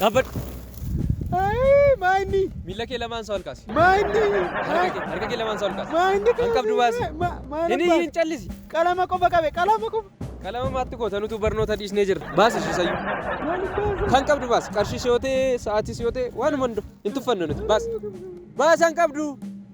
Dhaabbadhu. Maayinni. Miila kee lamaan isaa ol kaasi. Maayinni. Harka kee harka kee lamaan isaa ol kaasi. Maayinni. Kan qabdu baasi. Hin iyyiin callisi. Qalama qofa qabe qalama qofa. Qalama maatti goota nutu barnoota dhiisnee jirra. Baasi ishii sayyuu. Kan qabdu baasi. Qarshii si yoo ta'e sa'aatii si yoo ta'e waanuma hundu hin tuffannu nuti baasi. Baasi kan qabdu.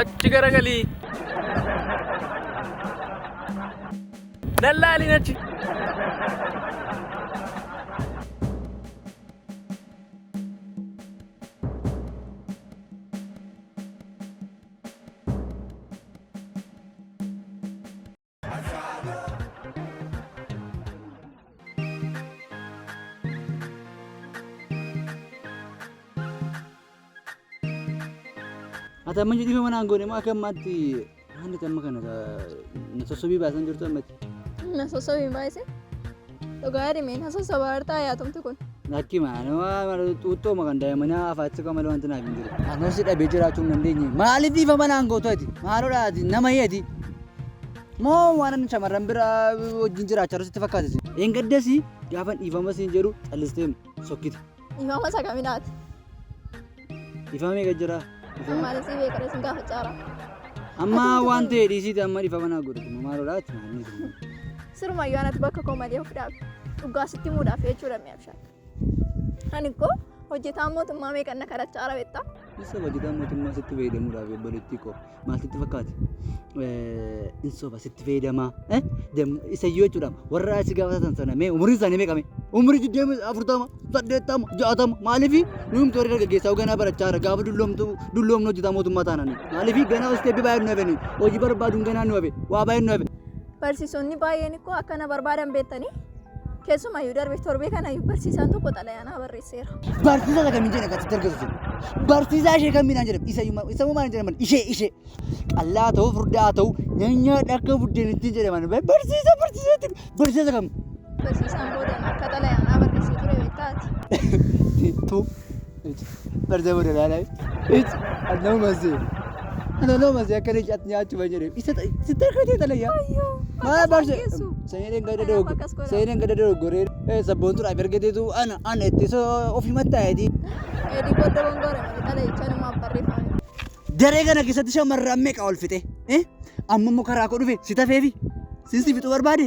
Achi garagali. Lallaalin achi. Ati amma jedhii mana aangoon immoo akka ammaatti haalli amma kana na sossobii baasan jirtu ammatti. Na sossobii baay'ise. Dhugaa dhimeen hasa sabaartaa yaatumti kun. Lakki maanuma xuuxxooma kan daa'imanii afaatti kan malee wanti naaf hin jiru. Anoo si dhabee jiraachuu hin dandeenye. Maaliif ifa manaan gootu ati? Maalodha ati? Nama hiyati? Moo waan ani shamarran biraa wajjin jiraachaa jiru sitti fakkaate? Eengaddas gaafa dhiifama siin jedhu callistee sokkite. Dhiifama isa kaminaati. Dhiifama meeqa jira? Dhiifama. Maaliif si beekara isin gaafa caara. Amma waan ta'e dhiisiiti amma dhiifama naa godhu dhuma maalodha ati maalii dhuma. Siruma yoo anatti bakka koo malee of dhaabe. Dhugaa sitti muudhaaf jechuudha mi'a bishaan. Ani koo hojjetaan mootummaa meeqanna kadhachaa raawwetta. Isa hojjetaan mootummaa sitti fayyadamuudhaaf obboleettii koo. maal sitti fakkaate? Hin soba sitti fayyadamaa. Isayyoo jechuudha warra si gaafatan sana mee umuriin isaanii meeqa mee? Umurii digdamii afurtama saddeettama jaatama maaliifi nuyi torii dargaggeessaa ganaa barachaa jira gaafa dulloomtu dulloomnu hojjetaa mootummaa taananii maaliifi ganaa hosteebbi baay'ee nu hafe nuyi hojii barbaaduun ganaa nu hafe waa baay'ee nu hafe Barsiisonni baay'een ikkoo akka na barbaadan beektanii keessumayyuu darbe torbee kana barsiisaan tokko xalayaa naa barreesseera. Barsiisaa isa kamiin jedhan kan sitti argisiisu? Barsiisaa ishee kamiidhaan jedhan? Isa iyyuu isa immoo maaliin jedhaman? Ishee ishee. Qallaa haa ta'uu furdaa haa ta'uu nyaanyaadha akka buddeenittiin jedhaman. Barsiisaa barsiisaa jedhu barsiisaa isa kam? Barsiisaan booda akka xalayaa naa barreessee ture beektaati. Tu Barza bada lala. It anno mazi. Anno mazi akka leenci atti nyaachu ban jedhe. Isa sitti akka ta'e xalayya. Maa barza. Seeneen gada dogo. Seeneen gada dogo goree. Eh sabboontu dhaaf erga deetu ana ana itti so ofi mattaa'eeti. Eedii booda wangoora malee xalayicha namaaf barreeffame. Daree kana keessatti shamarran meeqa ol fixe? Eh amma immoo karaa koo dhufe si tafeefi. Sin si fixuu barbaade.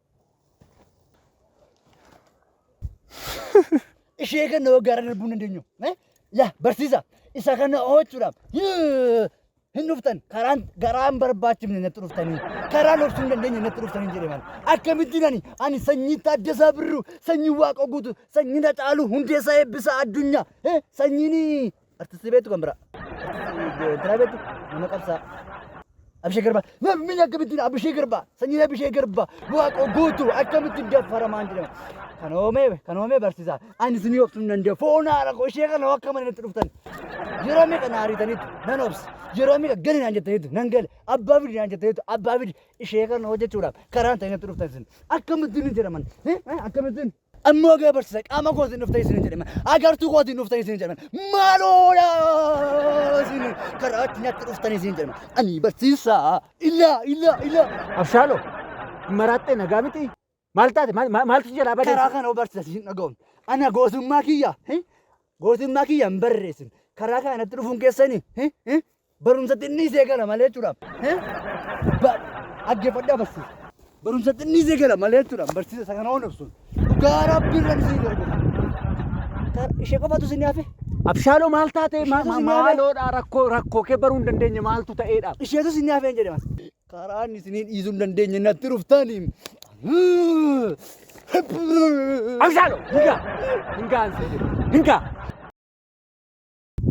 ishee kana waggaara darbuu hin dandeenyu. Eh? Yaa barsiisa isa kana oolchuudhaaf yoo hin dhuftan karaan garaan barbaachifne natti dhuftanii karaan obsuu hin dandeenye natti dhuftanii jedhe maal akkamittiin ani ani sanyii taaddasaa birruu sanyii waaqa guutu sanyii na caalu hundeessaa eebbisaa addunyaa eh? sanyiin Artisti beektu kan biraa. Artisti biraa beektu nama qabsaa. Abishee Garbaa. Namni akkamittiin Abishee Garbaa. Sanyiin Abishee Garbaa. Waaqoo guutuu akkamittiin daffaramaan jedhama. Kan oomee kan oomee barsiisaa. Ani isinii obsuun nan danda'u. Foon haadha koo ishee kana akka mana natti dhuftan. Yeroo meeqa na ariitaniitu nan obsa. Yeroo meeqa gali naan jettaniitu nan gale. Abbaa fidi naan jettaniitu abbaa fidi. Ishee kana hojjechuudhaaf karaan ta'e natti dhuftan isin. Akkamittiin hin jedhaman. Akkamittiin. Amma wagaa barsiisa qaama kootiin dhuftanii isin jedhame agartuu kootiin dhuftanii isin jedhame maaloodha isin karaa itti nyaatti dhuftanii isin jedhame ani barsiisa ilaa ilaa ilaa Abshaaloo maraaxxee nagaa miti maal taate maal- maal- maaltu si jalaa badee? karaa kana barsiisa isin dhaga'uun ana gootummaa kiyya hi? gootummaa kiyya hin barreessin karaa kanatti dhufuun keessanii hi? hi? Barumsa xinnii see gala malee jechuudhaaf. Dhaggeeffadhaa barsiisa. Barumsa xinnii see gala malee jechuudhaaf barsiisa isa kana honofsuun. Dhugaa rabbiin rabbi siin gargaara. Ishee qofatu isin hafe. Abshaaloo maal taatee Ishee tusi nyaate. maaloodha rakkoo rakkoo kee baruu hin dandeenye maaltu ta'eedha. Isheetu isin hafe hin jedhe maal. Karaan isinii dhiisuu hin dandeenye natti dhuftaanii. Abshaaloo hingaa hingaan sii jedhe hingaa.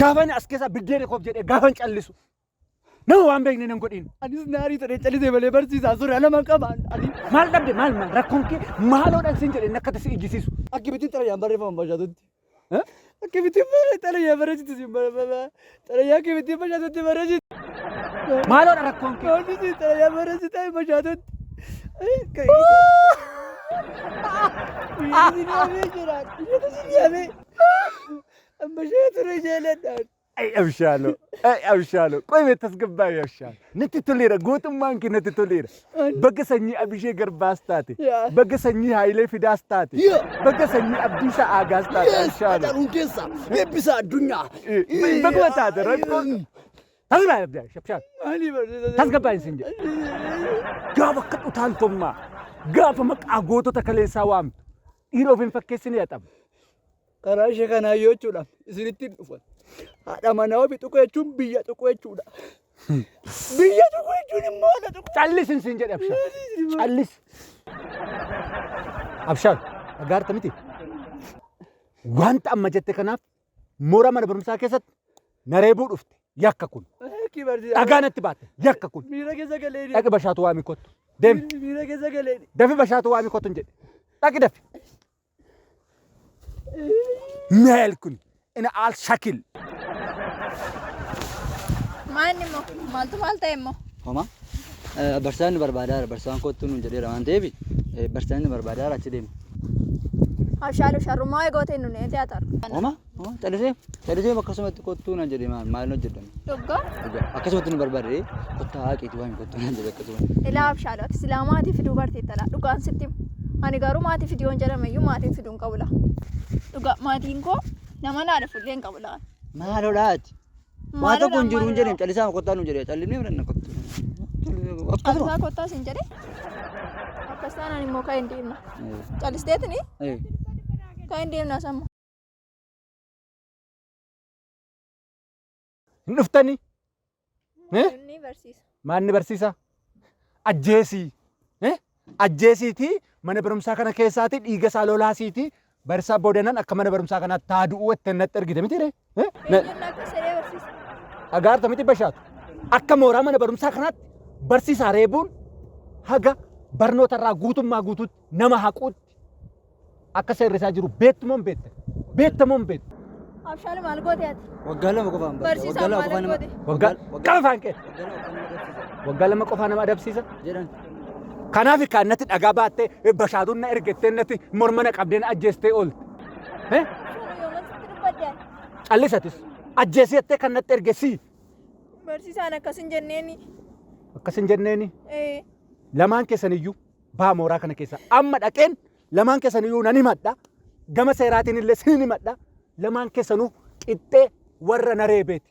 Gaafan as keessaa biddeena koof jedhee gaafan callisu. Nama waan beekne nan godhin. Anis naarii ta'ee callisee malee barsiisaa sura nama qabaan. Ani Maal dhabde maal maal rakkoon kee maaloodhaan sin jedhee nakkata si ijjisiisu. akkamitti xalayaan barreeffaman bashaatutti? Akkamitti xalayaa barreessitu siin barreeffama? Xalayaa akkamitti bashaatutti barreessitu? Maaloodha rakkoon kee. Oomishni xalayaa barreessitu bashaatutti. Inni ni hamee jira. Inni ni hamee. Amma ishee ture jaaladhaan. Ay abshaaloo, ay abshaaloo, qoy mee tasgabbaa'e abshaal. Natti toleera, gootummaan kee natti toleera. Baga sanyii Abishee Garbaas taate, Yaa. baga sanyii Haayilee Fidaas taate, Yaa. baga sanyii Abdiisaa Aagaas taate Yes, abshaaloo. Haacaan Hundeessaa, eebbisaa addunyaa. Baguma taate rakkoon. Tasgabbaa'e abshaal, abshaal. Maalii barsiisa? Tasgabbaa'e isin jedhe. Gaafa akka utaaltummaa, gaafa maqaa gootota kaleessaa waamtu, dhiira of hin fakkeessine haxamu. karaa ishee kanaa yoo jechuudhaaf isinitti hin dhufan. Haadha manaa ofii tuquu jechuun biyya tuquu jechuudha. Biyya tuquu jechuun immoo haadha tuquu. Callis hin siin jedhe abshaar. Callis. Abshaar dhagaarta miti. Wanta amma jette kanaaf moora mana barumsaa keessatti na reebuu dhufte yakka kun. Akki barsiisa. Dhagaa natti baatte yakka kun. Miira keessa galee Dhaqi bashaatu waamii kottu. Deemi. Miira keessa galee Dafi bashaatu waamii kottu hin jedhe. Dhaqi dafi. Meel kun ina al shakil. Maanni immoo maaltu maal ta'e immoo? Homa. Barsiisaan ni barbaadaara. Barsiisaan kottu nuun jedheera waan ta'eef barsiisaan ni barbaadaara achi deema. Abshaaloo sharrumaa eegootiin nu neetee haa ta'u. Homa. Moo callisee callisee akkasumatti kottuu naan jedhe maal maal hojjedhan. Dhugaa. Dhugaa akkasumatti nu barbaade kottaa haqeetu waan kottuu naan jedhe akkasumatti. Ilaa abshaadha ati silaa maatii fiduu bartee talaa dhugaan sitti himu. Ani garuu maatii fiduu hin jedhame iyyuu maatiin fiduu hin qabu laa. Dhugaa maatiin koo nama naa dhufu illee hin qabu laa. Maaloo dhaati. Waa Maaloo tokko hin jiru hin maaloo jedheen callisaa kottaa nu jedhe callimee fudhanna kottuu. Callisaa Akkasuma. kottaa siin jedhe. Akkas taanaan immoo kan hin deemna. Callisteetini Eh. kan hin deemna samma. Hin dhuftanii? Eh? Inni barsiisa. Maanni barsiisa? Ajjeesii. Eh? Ajjeesiitii mana barumsaa kana keessaatii dhiiga isaa lolaasiitii barsaa boodanan akka mana barumsaa kanaa taa du'uu itti natti ergite miti ree? Eh? Na- Eenyuun akka saree barsiisa. Dhagaarta miti bashaatu. Akka mooraa mana barumsaa kanaatti barsiisaa reebuun haga barnoota irraa guutummaa guutuutti nama haquutti Akka seerri isaa jiru beektu moo hin beektan? Beekta moo hin beektu? Abshaal maal goote ati? Waggaa lama qofaan barsiisa. Barsiisaan Waggaa lama maal qofaan nama- goote? Waggaa waggaa- qaba afaan kee. waggaa lama qofaan nama barsiisa. Waggaa lama qofaa nama adabsiisa. Jedhan. Kanaaf kan natti dhagaa baattee bashaatuun na ergettee natti morma na qabdee na ajjeestee oolte. Eh? Abshaal yooma sitti dubbadde ati? Callisatis ajjeesii jettee kan natti ergesii. Barsiisaan akkas hin jenneeni. Akkas hin jenneeni Eh, lamaan keessaniyyuu baa mooraa kana keessa amma dhaqeen lamaan keessaniyyuu nan himadha gama seeraatiin illee sin himadha lamaan keessanuu qixxee warra na reebeeti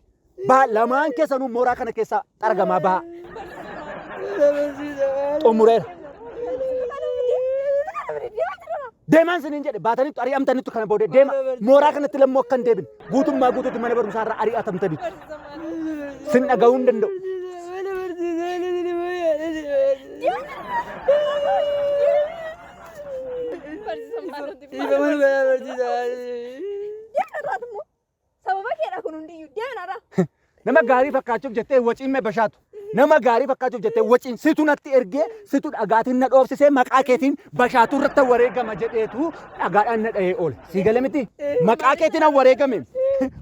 baa lamaan keessanuu mooraa kana keessa xaragamaa baa xumureera deemaan siniin jedhe baatanitti ari'amtanitti kana boodee deema mooraa kanatti lammoo akka hin deebine Guutummaa guutuutti mana barumsaa irraa ari'atamtanitu. Sin dhaga'uu hin danda'u. Sababa keedha kun hundiyyuu deeman irraa. Nama gaarii fakkaachuuf jettee waciin mee bashaatu. Nama gaarii fakkaachuuf jettee waciin situ natti ergee situ dhagaatiin na dhoofsisee maqaa keetiin bashaatuu irratti wareegama jedheetu dhagaadhaan na dhahee oole. Sii gale miti maqaa keetiin an wareegame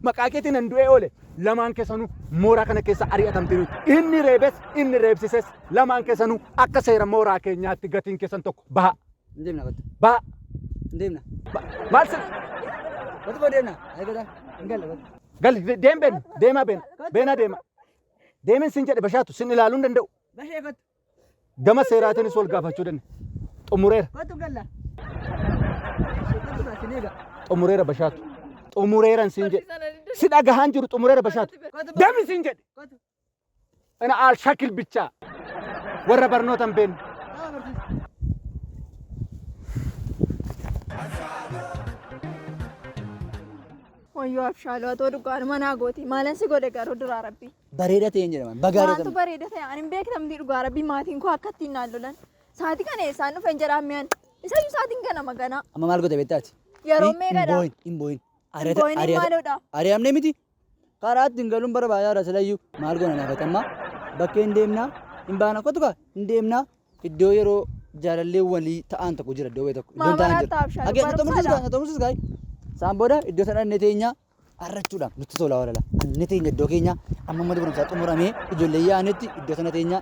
maqaa keetiin an du'ee oole. Lamaan keessanuu mooraa kana keessa ari'atamtee jirtu. Inni reebes inni reebsises lamaan keessanuu akka seera mooraa keenyaatti gatiin keessan tokko baha. Hin deemna kottu. Ba. Hin deemna. Ba- Maal sir? Kottu boo deemna. Ayi godha. Hin galle kottu. Gal de- deem beenu. Deemaa beena. Beenaa deema. Deemin sin jedhe bashaatu sin ilaaluu hin danda'u. Bashee kottu. Gama seeraatiinis wal gaafachuu danda'a. Xumureera. Kottu galla. Kottu gaa sin eega. Xumureera bashaatu. Xumureeran sin jedhe. Si dhagahaan jiru xumureera bashaatu. Kottu boo. Deemi sin jedhe. Kottu. Ana al shakil bichaa warra barnoota hin beekne. Wayyoo abshaaloo atoo dhugaadhuma naa gooti maalan si godhe garuu duraa rabbi. Bareeda ta'een jedhama. Bagaa Maaltu jedhama. bareeda ta'e ani hin beektamti dhugaa rabbi maatiin koo akka ittiin naan lolan. Saatii kana eessaan dhufe hin jedhaan mi'an. Isayyuu saatiin kana maganaa. Amma maal goota beektaati? Yeroo meeqadha? Hin booyin. Hin booyin. Hin booyin, hin maaloodha? Ari'amne miti. Karaa ittiin galuun barbaachisaadha silayyuu. Maal goona naaf atammaa? Bakkee hin deemnaa? Hin baana kottu kaa hin deemnaa? Iddoo yeroo jaalallee walii ta'an tokko jira iddoo wayii tokko. Iddoon ta'an Maamaraatti jira. abshaala Agee na xumursiis kaa barbaada. na xumursiis kaa. Isaan booda iddoo sana dhannee teenyaa arrachuudhaan nutti tola walala. Annee teenya iddoo keenyaa amma mana barumsaa xumuramee ijoollee yaa'anitti iddoo sana teenyaa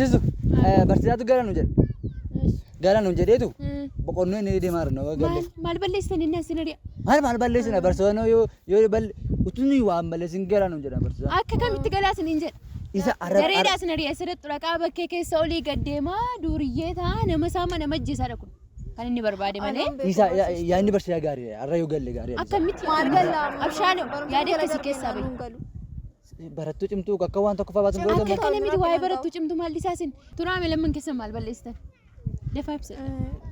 Jisu barsiisaatu gara nu jedhe. Gara nu jedheetu boqonnoo inni deemaa jiru nama galle. Maal balleessitan inni asii nadiya? Maal maal balleessina barsiisota yoo yoo balle utuu nuyi waan balleessin gara nu jedha barsiisa. Akka kamitti galaa isiniin jedha? Isa arra Dareedaa isin ari'a asirratti dhaqaa bakkee keessa olii gad deemaa duuriyyee ta'a nama saama nama ajjeesaadha kun kan inni barbaade malee. isa yaadni barsiisaa gaariidha arra yoo galle gaariidha. Akkamitti maal gallaa? Abshaaloo yaada akkasii keessaa bahi. Barattuu cimtuu akka waan tokko fa'aa baatun Akka kana miti waa'ee barattuu cimtuu maal dhisaasin. Turaame lamman keessan maal balleessitan? Dafaa ibsa.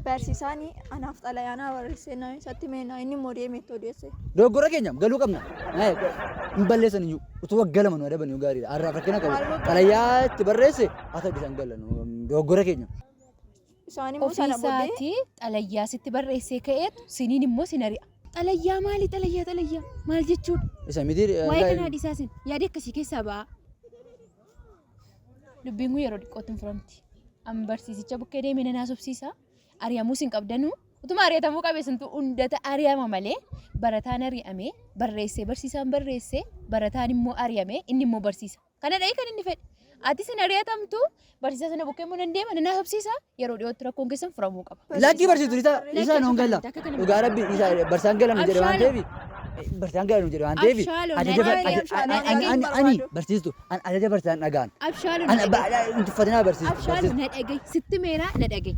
Barsiisaan anaaf xalayaa naa barreessee naa isatti meena inni immoo deemee itti odeesse. Dogoggora keenya galuu qabna. Naayee hin balleessan iyyuu utuu waggaa lama nu adaban yoo gaariidha. Har'aaf rakkina qabu. Xalayaa itti barreesse haa ta'u isaan galan dogoggora keenya. Isaan immoo sana booddee ofiisaati xalayyaa sitti barreessee ka'eetu siniin immoo sin ari'a. Xalayyaa maali xalayyaa xalayyaa maal jechuudha? Isa miti Waa'ee kanaa live dhiisaa sin yaada akkasii keessaa ba'a. Dubbiin kun yeroo xiqqootti hin furamti. Amma barsiisicha bukkee deemee nan haasofsiisa. Ari'amuu sin qabdanuu. Utuma ari'atamuu qabe sintu hundata ari'ama malee barataan ari'amee barreessee barsiisaan barreessee barataan immoo ari'amee inni immoo barsiisa. Kana dha'ee kan inni fedhe. Atis hin ari'atamtu, barsiisaa sana bukkee immoo nan deema, nan haasofsiisa, yeroo dhiyootti rakkoon keessan furamuu qaba. Lakkii barsiistu dhiisaa dhiisaa nuun galla. Dhugaa rabbi dhiisaa barsiisaan gala nu jedhe waan ta'eef barsiisaan gala nu jedhe waan ta'eef Abshaaloo, ajaja bar- nadhee, aja- ani- ani- ani- ani- ani barsiistu ani ajaja barsiisaan dhagaan. Abshaaloo Ani na ba- dhaga'i. hin tuffatinaa barsiistu. Abshaaloo barsiistu. na dhaga'i. Sitti meeraa na dhaga'i.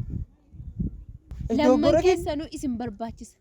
Lamman Dogoggora kee- keessanuu isin barbaachisa.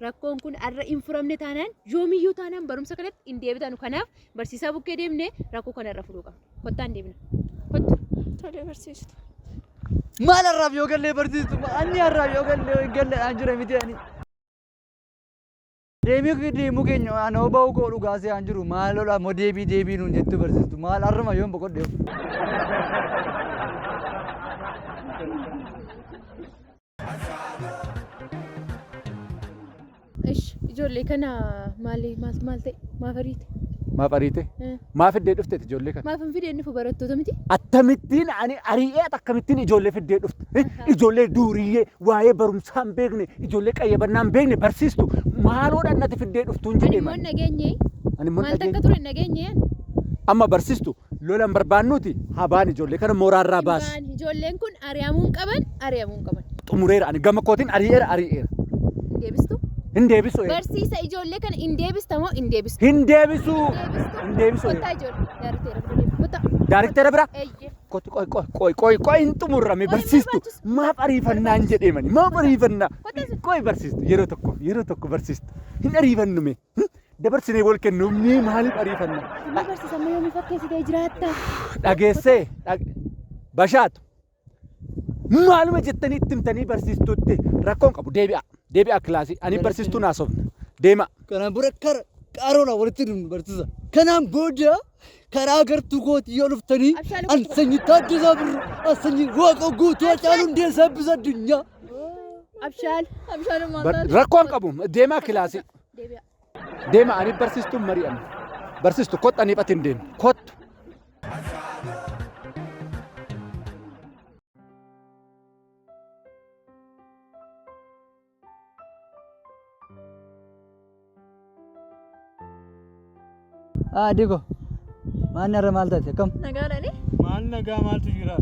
Rakkoon kun har'a hin furamne taanaan yoomiyyuu taanaan barumsa kanatti hin deebitanu. Kanaaf barsiisaa bukkee deemnee rakkoo kana irra furuu qabna. Kottaa hin deebina. Kottu. Tole barsiistu. Maal har'aaf yoo gallee barsiistu anni har'aaf yoo gallee galleedhaan jira miti ani. Deemii deemuu keenya ana huba'uu koo dhugaasee aan jiru maal lola moo deebii deebii nuun jettu barsiistu maal har'uma yoon boqodhe. Ish ijoollee kana maali maal maal ta'e maaf ariite? Maaf ariite? Eh. Maaf fiddee dhufteeti ijoollee kana? Maaf hin fidee dhufu barattoota miti? Akkamittiin ani ari'ee akkamittiin ijoollee fiddee dhufte? Eh, Ijoollee duuriyyee waa'ee barumsaa hin beekne, ijoollee qayyabannaa hin beekne barsiistu maaloodhaan natti fiddee dhuftuun Ani jedhee immoo hin malee. dhageenye. Ani immoo hin Maal takka dhageenye. ture hin dhageenye. Amma barsiistu Lola hin barbaannuuti haa ba'an ijoollee kana mooraa irraa baasi. Hin ba'an ijoolleen kun ari'amuu hin qaban ari'amuu hin qaban. Xumureera ani gama kootiin ari'eera ari'eera. Hin deebistu? Hin deebisu. Barsiisa ijoollee kana hin deebista moo hin deebistu? Hin deebisu. Hin deebisu. Kottaa ijoollee daarikteera bira deemu. Kottaa. Daarikteera bira? Eeyyee. Kotti qoy qoy qoy qoy qoy hin xumurrame barsiistu maaf ariifannaan jedheemani maaf ariifannaa qoy barsiistu yeroo tokko yeroo tokko barsiistu hin ariifannume. dabarsinee wal kennuuf mee maaliif ariifanna? Amma barsiisa amma yoomii fakkeessitee jiraatta? Dhageessee dhag- bashaatu maaluma jettanii itti himtanii barsiistuutti rakkoon qabu deebi'a deebi'a kilaasii ani barsiistuun haasofna deema Kana bura kara qaroona walitti dhufnu barsiisa. Kanaan booda karaa gartuu kootii yoo dhuftanii Abshaaluu an sanyii taaddasaa birru an sanyii waaqoo guutuu hacaaluu hundeessaa eebbisa addunyaa. Abshaal. Abshaaluu Bar- maaltaati? rakkoon qabu deemaa kilaasii Deebi'a. Deema ani barsiistuun mari'anna. Barsiistu kottu ani iphatiin deema. Kottu. Ah, Diko. Maanni har'a maal taate akkam? Nagaadhani? Maal nagaa maaltu jira?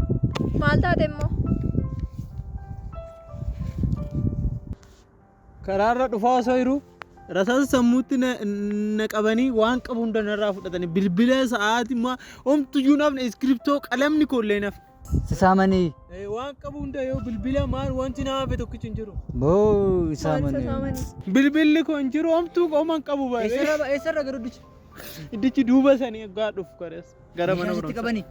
Maal taate immoo? Karaarra dhufaa osoo jiru rasaasa sammuutti na, na qabanii waan qabu hunda narraa fudhatanii bilbila sa'aatii ma homtuyyuu nafne iskiriptoo qalamni koollee naf. Si saamanii Eh, Waan qabu hunda yoo bilbila maal wanti na hafe tokkichi hin jiru. moo Maal saamanii? sasaamani? Bilbilli koo hin jiru homtuu qooma hin qabu baay'ee. Eessarra eessarra garuu dicha. Iddichi duuba sanii egaa dhufu kareessa. Gara mana Meeshaa sitti barumsaa. qabani.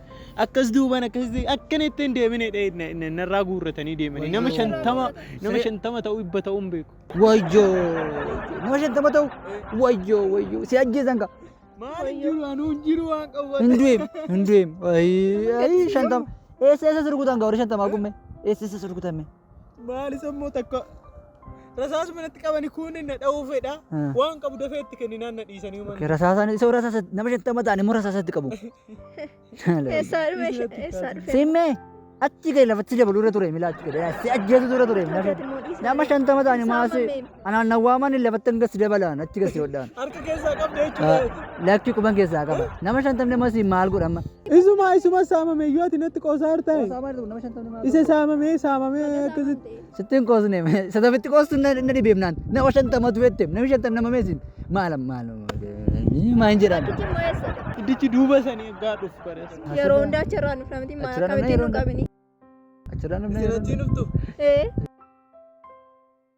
Akkas duubaan akkas ta'e akkan itti hin deemine dha'e na- na- narraa guurratanii deemanii nama Wayyoo. shantama nama Siree- shantama ta'uu dhibba ta'uu hin beeku. Wayyoo. Nama shantama ta'u. Wayyoo wayyoo. Si ajjeesan ka. Maal hin jiru anuu hin jiru waan qabu. Hin du'eem. Hin du'eem. Ayii ayii shantama. Eessa eessa sirkutan ka warri shantamaa kun mee? Eessa eessa sirkutan mee? Maali sammoo takka rasaasuma manatti qabani kun na dha'uu fedha. Waan qabu dafee itti kenninaan na dhiisanii uuman. Rasaasaan isa rasaasa nama shantama ta'an immoo rasaasatti qabu. Eessaa dhufe eessaa dhufe. Simmee achi gadi lafatti dabaluu irra ture milaa achi gadi si ajjeesu dura ture nama shantama ta'an maasii. Anaan na waaman lafattan gasi dabalaan achi gasi hodhaan. Harka keessaa qabda jechuudha. Lakki quban keessaa qaba. Nama shantamne masi maal godhama? Isuma isuma saamame yoo ati natti qoosaa hartaa. Nama shantamne maal? Isa saamame saamame akkasitti. Sittiin qoosne sadafitti qoostu na dhibeemnaan nama shantamatu jette namni shantam nama meesin maal maal maal jedhama. Itti immoo eessa? Iddichi duuba sanii egaa dhufu barees. Yeroo hundaa achirraa nuuf namatti maal Achirraa namni akkamitti nu yeroo qabini? Achirraa namni Isin achii nuftu. Ee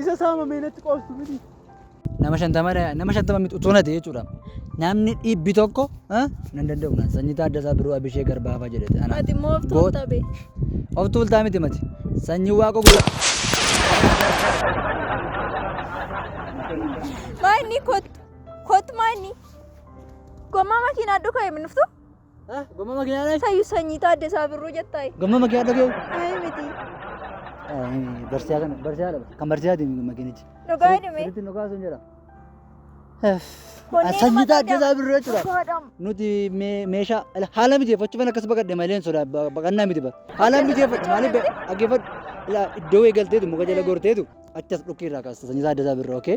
Isa saama mee natti qoostu miti. Nama shantama nama shantama miti utuu nate jechuudha. Namni dhibbi tokko ah, nan danda'u naan sanyii taaddasaa biroo abishee garbaafaa jedhete. Ana Ati immoo of goot- tuulta bee. Of tuultaa miti mati. Sanyii waaqa guddaa. Maanni kottu. Kottu maanni. Gommaa makiinaa dhukaa himnuftu. Gomma makiinaa dhayi. Sayyuu sanyii taaddesaa birruu jettaa. Gomma makiinaa dhagee. Ayii miti. Barsiisaa kana barsiisaa dha. Kan barsiisaa deemi makiinichi. Dhugaa hidhime. Sirriitti nu kaasuun jedha. Konneen Sanyii mata taaddesaa dam- birruu jechuudha. Dhugaa dam. Nuti mee- meeshaa ala- haala mijeeffachuufan akkas baqadhe malee hin sodaa ba- baqannaa miti bara. Haala mijeeffadhu maaliif be- dhaggeeffadhu. Ilaa iddoo eegalteetu muka jala gorteetu achi as dhukkee irraa kaasta sanyii taaddesaa birruu okee.